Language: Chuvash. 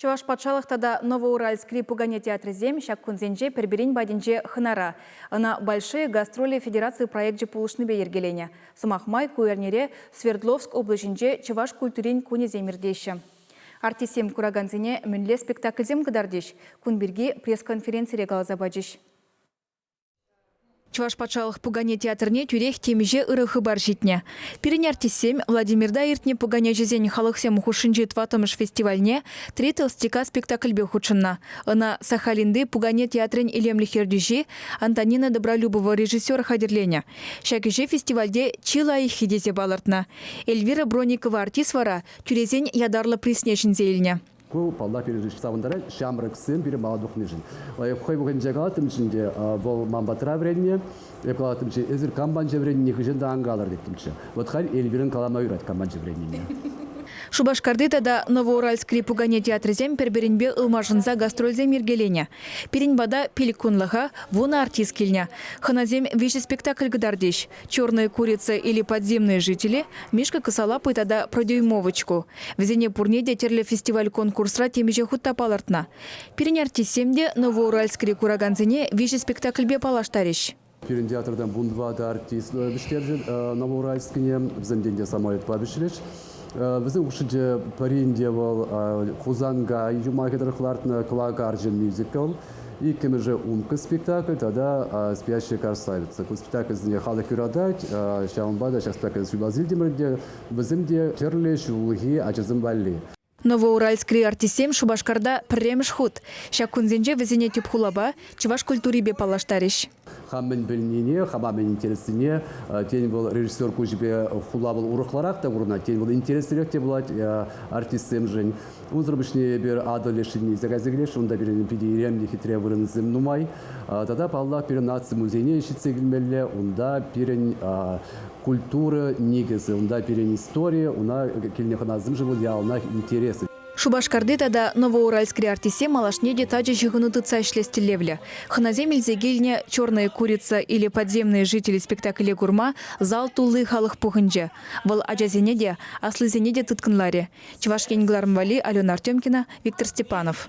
Чӑваш патшалӑх тата Новоуральскри пукане театрӗсем ҫак кунсенче пӗр-пӗрин патӗнче хӑнара. Ӑна Большие гастроли федераци проекчӗ пулӑшнипе йӗркеленӗ. Сӑмах май, ку эрнере Свердловск облаҫӗнче Чӑваш культурин кунӗсем иртеҫҫӗ. Артистсем куракансене мӗнле спектакльсем кӑтартӗҫ, кун пирки пресс-конференцире каласа пачӗҫ. Чӑваш патшалӑх пукане театрне тӳрех темиҫе ырӑ хыпар ҫитнӗ. Пирӗн артистсем Владимирта иртнӗ пуканеҫӗсен халӑхсем хушшинчи тӑваттӑмӗш фестивальне Три толстяка спектакльпе хутшӑннӑ. Ӑна Сахалинти пукане театрӗн илемлӗх ертӳҫи Антонина Добролюбова режиссер хатӗрленӗ. Ҫак ӗҫе фестивальте чи лайӑххи тесе палӑртнӑ. Эльвира Броникова артист вара тӳресен ятарлӑ призне ҫӗнсе илнӗ. Ку паллах пирӗн савӑнтарать. Ҫамрӑксем пире мала тухнишӗн. Хӑй пухӑнче калаттӑмччӗ ӗнтӗ, вӑл ман патра вӗреннӗ. Эп калаттӑмччӗ, эсир кампанче вӗреннине хыҫҫӑн та ан калӑр теттӗмччӗ. Вӑт халь Эльвирӑн калама юрать кампанче вӗреннине. Шупашкарти тата Новоуральскри пукане театрӗсем пӗр-пӗринпе ылмашӑнса гастрольсем йӗркеленӗ. Пирӗн пата пилӗк кунлӑха вунӑ артист килнӗ. Хӑнасем виҫӗ спектакль кӑтартӗҫ. Черные курицы или подземные жители, Мишка кӑсалапый тата Продюймовочку. Вӗсене пурне те тӗрлӗ фестиваль-конкурсра темиҫе хут та палӑртнӑ. Пирӗн артистсем те Новоуральскри куракансене виҫӗ спектакльпе паллаштарӗҫ. Пирӗн театртан вун тӑватӑ артист вӗҫтерчӗ Новоуральскне. Вӗсем те самолетпа вӗҫрӗҫ. Вӗсен хушшинче пӗрин те вӑл Хусанка юмахӗ тӑрӑх лартнӑ кӑвак арчӑ мюзикл, иккӗмӗшӗ Умка спектакль тата Спящая красавица. Ку спектакльсене халӑх юратать, ҫавӑнпа та ҫак спектакль ҫулласилтӗмӗр те вӗсем те тӗрлӗ ҫуллахи ачасем валли. Новоуральскри артистсем Шупашкарта пӗрремӗш хут. Ҫак кунсенче вӗсене тӗп хулапа, чӑваш культурипе паллаштарӗҫ. Хам мӗн пӗлнине, хама мӗн интереслине, тен, вӑл режиссер куҫӗпе хулавӑн урӑхларах та курӑнать, тен, вӑл интереслӗрех те пулать артистсемшӗн. Унсӑр пуҫне эпир Атӑл леш ҫынни илсе кайса килесшӗн, унта пирӗн питӗ илемлӗ хитре вырӑнсем нумай. Тата, паллах, пирӗн наци музейне ҫитсе килмелле, унта пирӗн культура никӗсӗ, унта пирӗн истори, уна килнӗ хӑнасемшӗн вӑл яланах интереслӗ. Шупашкарти тата Новоуральскри артистсем малашне те тачӑ ҫыхӑну тытса ӗҫлес тӗллевлӗ. Хӑнасем илсе килнӗ «Черная курица» или «Подземные жители» спектакле курма зал тулли халӑх пухӑнчӗ. Вӑл ачасене те, аслисене те тыткӑнларӗ. Чӑваш Ен кӑларӑм валли Алена Артемкина, Виктор Степанов.